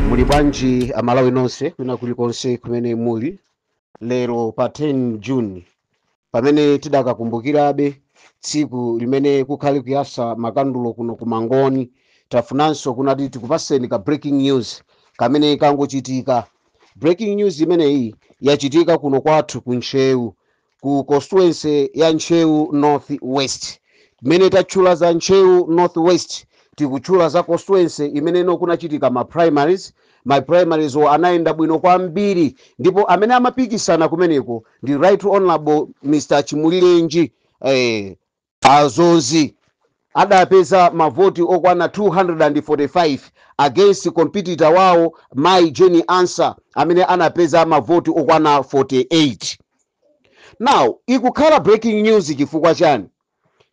muli bwanji amalawi nonse kwina kulikonse kumene muli lero pa 10 june pamene tidakakumbukirabe tsiku limene kukhale kuyasa makandulo kuno ku mangoni tafunanso kunati tikupatseni ka breaking news kamene kangochitika breaking news imeneyi yachitika kuno kwathu ku ntcheu ku constituency ya Ntcheu North West. Mmene tatchula za Ntcheu North West tikutchula za constituency imene kunachitika ma primaries. Ma primaries-wo anayenda bwino kwambiri ndipo amene amapikisana kumeneko ndi Right Honorable Mr. Chimulirenji eh, A Dzonzi adapeza mavoti okwana 245 against competitor wawo Mayi Jane Ansah amene anapeza mavoti okwana 48. Now ikukhala breaking news chifukwa chani?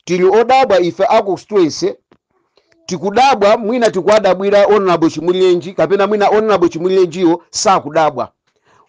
Tili odabwa ife a constituency tikudabwa mwina tikuwadabwira Hon. Chimulirenji kapena mwina Hon. Chimulirenjiyo sakudabwa.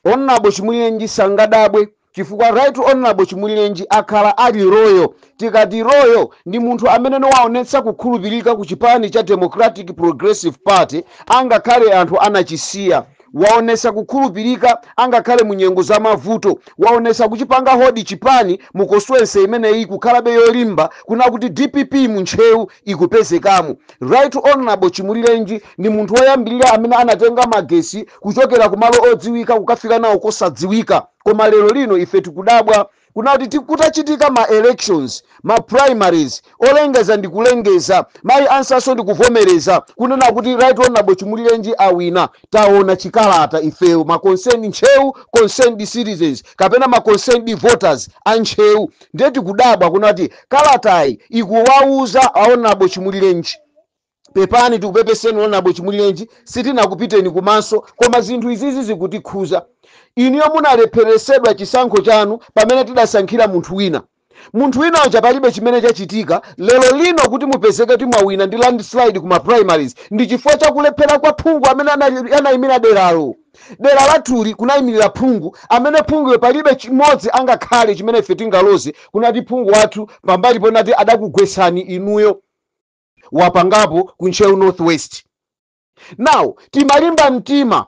Hon. Chimulirenji sangadabwe chifukwa Right Honourable Chimulirenji akhala ali loyal, tikati loyal ndi munthu amene waonetsa kukhulupirika ku chipani cha Democratic Progressive Party angakhale anthu anachisiya, waonetsa kukhulupirika angakhale mu nyengo za mavuto, waonetsa kuchipanga hold chipani mu constituency imeneyi kukhalabe yolimba kuna kuti dpp mu Ntcheu ikupezekamo. Right Honourable Chimulirenji ndi munthu woyambirira amene anatenga magetsi kuchokera kumalo odziwika kukafika nawo kosadziwika. koma lero lino ife tikudabwa kuna kuti ti- kutachitika ma elections ma primaries olengeza ndi kulengeza mayi ansah-nso ndi kuvomereza kunena kuti right honorable chimulirenji awina taona chikalata ifeyo ma concerned ntcheu concerned citizens kapena ma concerned voters a ntcheu ndiye tikudabwa kuna kuti kalatayi ikuwauza a honorable chimulirenji pepani tikupepeseni honorable chimulirenji sitinakupiteni kumaso koma zinthu izizi zikutikhudza inuyo munalepheretsedwa chisankho chanu pamene tidasankhira munthu wina munthu wina uja palibe chimene chachitika lero lino kuti mupezeke kuti mwawina ndi landslide ku ma primaries ndi chifukwa chakulephera kwa phungu amene anayimira deralo dera lathuli kunayimirira phungu amene phunguyo palibe chimodzi angakhale chimene ife tingaloze kunati phungu wathu pambali ponati adakugwetsani inuyo wapangapo ku ntcheu north west now timalimba mtima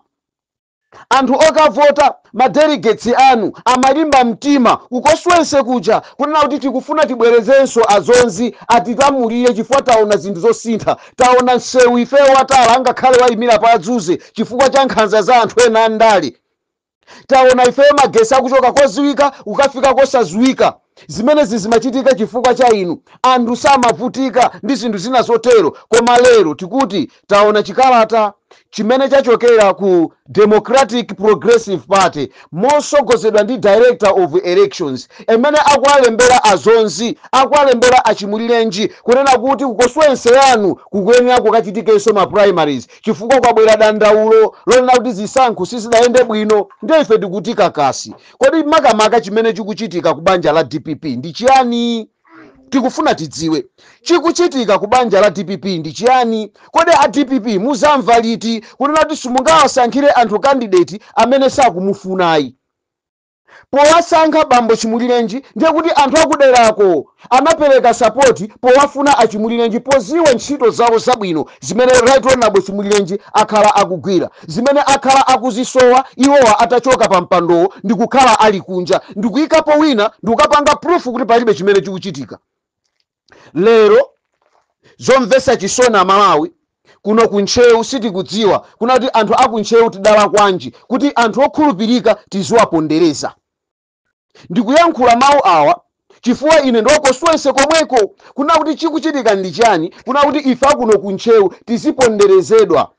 anthu okavota madelegates anu amalimba mtima ku constituency kuja kunena kuti tikufuna tibwerezenso a dzonzi atilamulire chifukwa taona zinthu zosintha taona msewu ifeyo watala angakhale wayimira pa adzuze chifukwa cha nkhanza za anthu ena andale Taona ifeyo magesi akuchoka koziwika kukafika kosaziwika zimenezi zimachitika chifukwa cha inu anthu samavutika ndi zinthu zina zotero koma lero tikuti taona chikalata chimene chachokera ku Democratic Progressive Party mosogozedwa ndi Director of Elections amene akuwalembera a Zonzi akuwalembera a Chimulirenji kunena kuti ku constituency yanu kukuyenera kukachitikenso ma primaries chifukwa kwabwera dandaulo lonena kuti zisankho sizidayende bwino ndiye ife tikuti kakasi. Kodi makamaka chimene chikuchitika ku banja la dpp ndi chiyani? Tikufuna tidziwe chikuchitika ku banja la dpp ndi chiyani. Kodi a dpp muzamva liti kunena kuti simungawasankhire anthu candidate amene sakumufunayi? powasankha bambo Chimulirenji ndiye kuti anthu akuderako anapereka sapoti powafuna a Chimulirenji poziwa ntchito zawo zabwino zimene Right Honourable Chimulirenji akhala akugwira zimene akhala akuzisowa iwowa atachoka pa mpandowo ndikukhala ali kunja ndikuikapo wina ndikukapanga proof kuti palibe chimene chikuchitika. lero zomvesa chisoni amalawi kuno ku ntcheu sitikudziwa kuna kuti anthu aku ntcheu tidalakwanji kuti anthu okhulupirika tiziwapondereza ndikuyankhula mawu awa chifukwa ine ndi wa constituency komweko kuna kuti chikuchitika ndi chani kuna kuti ife akuno ku ntcheu tiziponderezedwa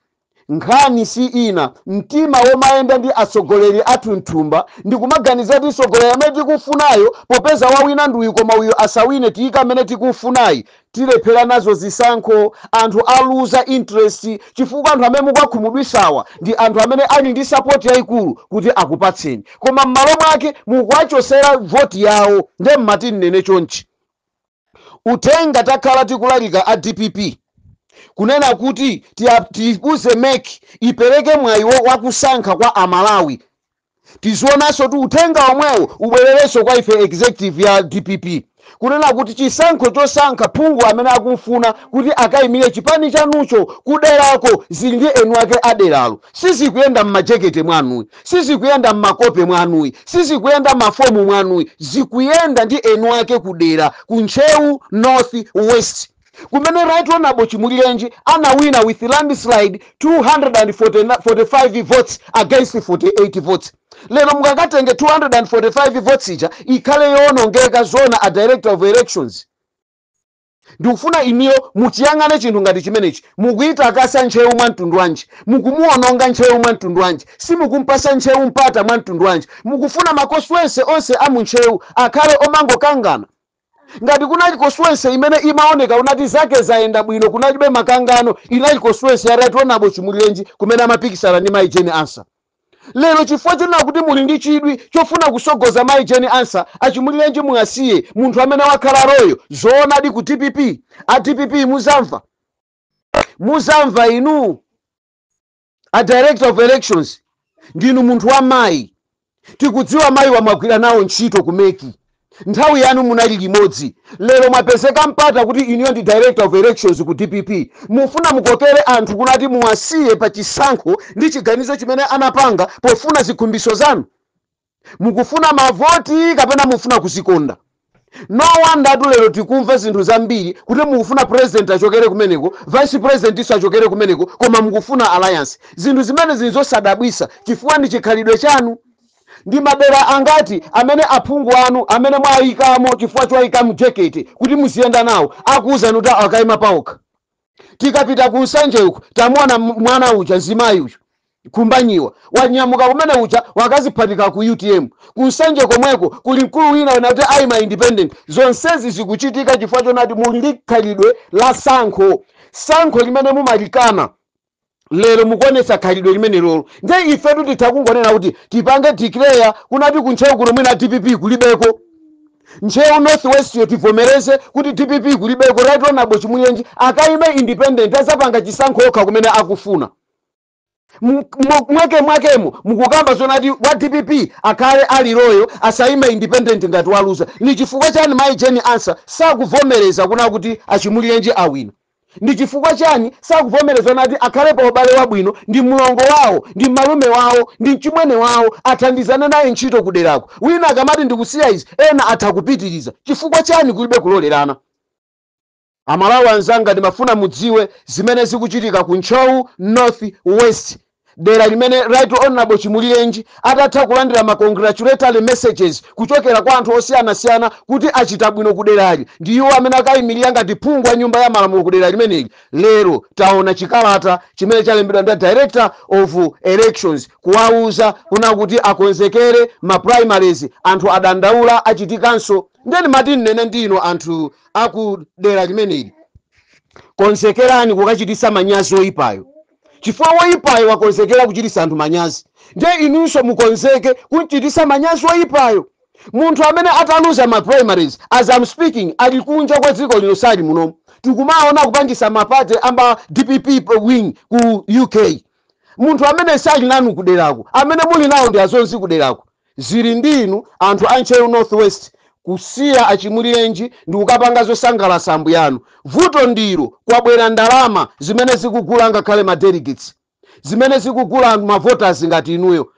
Nkhani si ina, mtima womayenda ndi atsogoleri athu mthumba ndi kumaganiza kuti mtsogoleri amene tikufunayo popeza wawina ndi uyu koma uyu asawine tiyika amene tikufunayi tilephera nazo zisankho anthu aluza interest chifukwa anthu amene mukuwakhumudwisawa ndi anthu amene ali ndi support yaikulu kuti akupatseni koma mmalo mwake mukuwachosera vote yawo nde ndimati ndinene chonchi Uthenga tikakhala tikulalika a dpp kunena kuti tiuze mec ipereke mwayi wakusankha kwa a Malawi, tizionanso kuti uthenga omwewo ubwererenso kwa ife executive ya dpp kunena kuti chisankho chosankha phungu amene akumfuna kuti akaimire chipani chanucho kuderako zili ndi eni wake a deralo, sizikuyenda mmajekete mwanuyi. Sizikuyenda mmakope mwanuyi, sizikuyenda mmafomu mwanuyi, zikuyenda ndi eni ake ku dera, ku Ntcheu north west kumene Right Honourable Chimulirenji anawina with landslide 245 votes against 48 votes. Lero mukakatenge 245 votes ija ikhale yowonongeka zoona a Director of Elections? Ndikufuna inuyo muchiyang'ane chinthu ngati chimenechi. Mukuitakasa Ntcheu mwa mtundu wanji? Mukumuwononga Ntcheu mwa mtundu wanji? Simukumpasa Ntcheu mpata mwa mtundu wanji? Mukufuna ma constituency onse a mu Ntcheu akhale omangokangana? Ngati kunali constituency imene imaoneka ngati zake zayenda bwino kunalibe makangano inali constituency ya Right Honourable Chimulirenji kumene amapikisana ndi mayi Jane Ansah. Lero chifukwa chonena kuti muli ndi chidwi chofuna kusogoza Mayi Jane Ansah a Chimulirenji Muasiye munthu amene wakhala loyal zoonadi ku dpp a dpp muzamva muzamva inu a director of elections ndinu munthu wa mayi tikudziwa mayiwa mwagwira nawo ntchito ku MEC Nthawi yanu munali limodzi, lero mwapezeka mpata kuti inuyo ndi director of elections ku dpp, mufuna mukokere anthu kunati muwasiye pa chisankho ndi chiganizo chimene anapanga pofuna zikhumbiso zanu? Mukufuna mavoti kapena mufuna kuzikonda? No wonder tu lero tikumva zinthu zambiri kuti mukufuna president achokere kumeneko, vice presidentinso achokere kumeneko koma mukufuna alliance. Zinthu zimenezi nzosadabwisa chifukwa ndi chikhalidwe chanu. Ndi madera angati amene aphungu anu amene mwayikamo chifukwa choyika mjeketi kuti muziyenda nawo akuwuzani kuti awa akayima pawokha? Tikapita ku Nsanje uku tamuwona mwana uja, mzimayi uyu Khumbanyiwa wanyamuka kumene uja wakaziphatika ku utm. Ku Nsanje komweko kuli mkulu wina unakuti ayima independent. Zonsezi zikuchitika chifukwa chonati muli ndi khalidwe la sankho, sankho limene mumalikana. lero mukuonesa khalidwe limenelolo nde ifetu titha kungonena kuti tipange declare kunati kuntcheu kuno mwina dpp kulibeko ntcheu north west-yo tivomereze kuti dpp kulibeko right honorable Chimulirenji akaime independent azapanga chisankho okha kumene akufuna M- mwa- mwake mwakemo mukukamba zonati wa dpp akhale ali loyal asaime independent ngati waluza ni chifukwa chani mayi Jane Ansah sakuvomereza kuna kuti a Chimulirenji awina Ndi chifukwa chani sakuvomereza nati akhale pa ubale wabwino ndi mlongo wawo, ndi malume wawo, ndi mchimwene wawo, athandizane naye ntchito kuderako. Wina akamati ndikusiya izi, ena atha kupitiriza. Chifukwa chani kulibe kulolerana? Amalawi anzanga ndimafuna mudziwe zimene zikuchitika ku Ntcheu North West. dera limene Right Honorable Chimulirenji atatha kulandira ma congratulatory messages kuchokera kwa anthu osiyanasiyana kuti achita bwino kuderali ndi iwo amene akayimilira ngati phungu wa nyumba ya malamulo kudera limeneli, lero taona chikalata chimene chalembedwa ndi Director of Elections kuwauza kuna kuti akonzekere ma primaries anthu adandaula achitikanso nde ndimati ndinene ndi inu anthu a ku dera limeneli, konzekerani kukachititsa manyazi oyipayo. chifukwa woyipayo wakonzekera kuchititsa anthu manyazi, ndiye inunso mukonzeke kumchititsa manyazi woyipayo. Munthu amene ataluza ma primaries as I'm speaking ali kunja kwa dziko lino sali muno. Tikumaona kupangitsa ma party a ma dpp wing ku UK. Munthu amene sali nanu kuderako, amene muli nawo ndi adzonzi kuderako. Zili ndi inu anthu a Ntcheu North West kusiya a Chimulirenji ndikukapanga zosangalasa ambuyanu. Vuto ndilo kwabwera ndalama zimene zikugula angakhale ma delegates, zimene zikugula anthu ma voters ngati inuyo.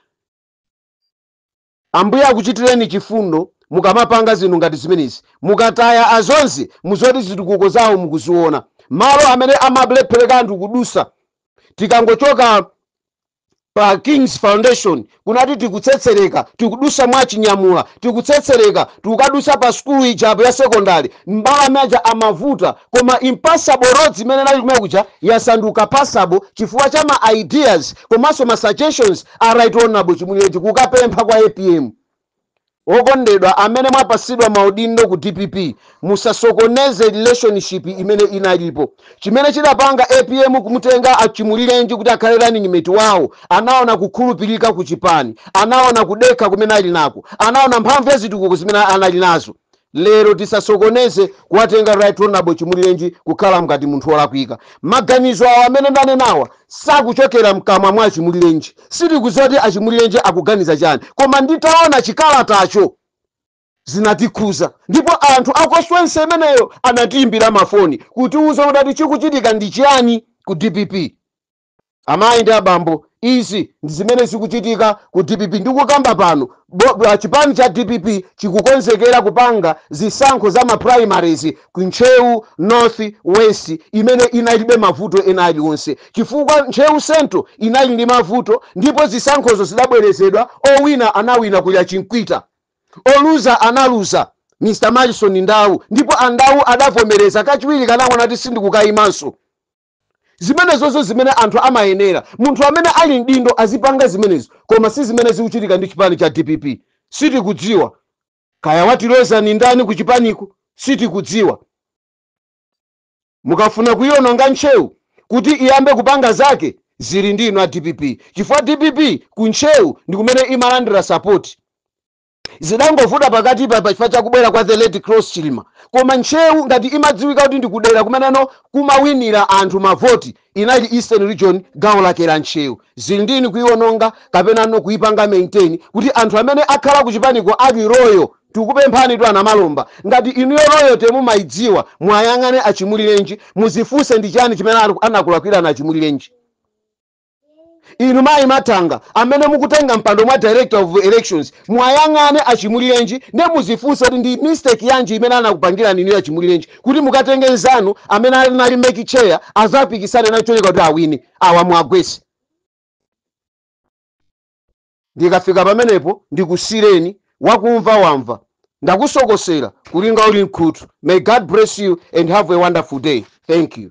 Ambuye akuchitireni chifundo mukamapanga zinthu ngati zimenezi. Mukataya a Dzonzi muzoti zitukuko zawo mukuziona. Malo amene amalephereka anthu kudusa tikangochoka. pa King's Foundation kunati tikutsetsereka tikudusa mwa achinyamula tikutsetsereka tikukadusa pa sukulu ija apo ya secondary mbalame aja amavuta koma impassable roads imene inali kumene kuja yasanduka passable chifukwa cha ma ideas komanso ma suggestions a right honorable chimulirenji kukapempha kwa apm Okondedwa amene mwapasidwa maudindo ku dpp musasokoneze relationship imene inalipo. Chimene chidapanga apm kumutenga a Chimulirenji kuti akhale running mate wawo anaona kukhulupirika ku chipani, anaona kudekha kumene ali nako, anaona mphamvu ya zitukuko zimene anali nazo. lero tisasokoneze kuwatenga right honorable chimulirenji kukhala mngati munthu wolakwika maganizo awo amene ndanenawa sakuchokera mkamwa mwa achimulirenji sitikudziwa kuti achimulirenji akuganiza chani koma nditaona chikalatacho zinatikhuza ndipo anthu a constituency imeneyo anatiimbira mafoni kutiuza kuti chikuchitika ndi chiyani ku dpp Amayi ndi abambo izi ndi zimene zikuchitika ku dpp ndikukamba pano chipani cha dpp chikukonzekera kupanga zisankho za ma primaries ku Ntcheu North West imene inalibe mavuto ena aliwonse chifukwa Ntcheu Central inali ndi mavuto ndipo zisankhozo zidabwerezedwa owina anawina kuli a Chinkwita oluza analuza Mr Malison Ndau ndipo a Ndau adavomereza kachiwirika anangonena kuti sindikukayimanso. Zimenezozo zimene anthu amayenera munthu amene ali mdindo azipanga zimenezo koma sizimene zikuchitika ndi chipani cha dpp sitikudziwa Kaya watiloza ndi ndani kuchipaniku sitikudziwa mukafuna kuiononga ntcheu kuti iyambe kupanga zake zili ndi inu a dpp chifukwa dpp ku ntcheu ndikumene imalandira sapoti. zidangovuta pakatipa pa chifukwa chakubwera kwa the late Klaus chilima koma ntcheu ngati imadziwika kuti ndikudera kumeneno kumawinira anthu mavoti inali eastern region gawo lake la ntcheu zili ndi inu kuiwononga kapenano kuipanga maintain kuti anthu amene akhala kuchipaniko ali loyal tikupemphanitu a Namalomba ngati inuyo loyalty mumaidziwa muwayang'ane achimulirenji muzifunse ndi chani chimene anakulakwirani achimulirenji Inu mayi Mathanga amene mukutenga mpando mwa director of elections muwayang'ane a Chimulirenji nde muzifunse kuti ndi mistake yanji imene anakupangirani inuyo a Chimulirenji kuti mukatenge nzanu amene anali mec chair azapikisane nanu cholinga kuti awine. Awa muwagwese. Ndikafika pamenepo ndikusireni wakumva wamva. Ndakusokosera kulinga uli mkhutu. May God bless you and have a wonderful day. Thank you.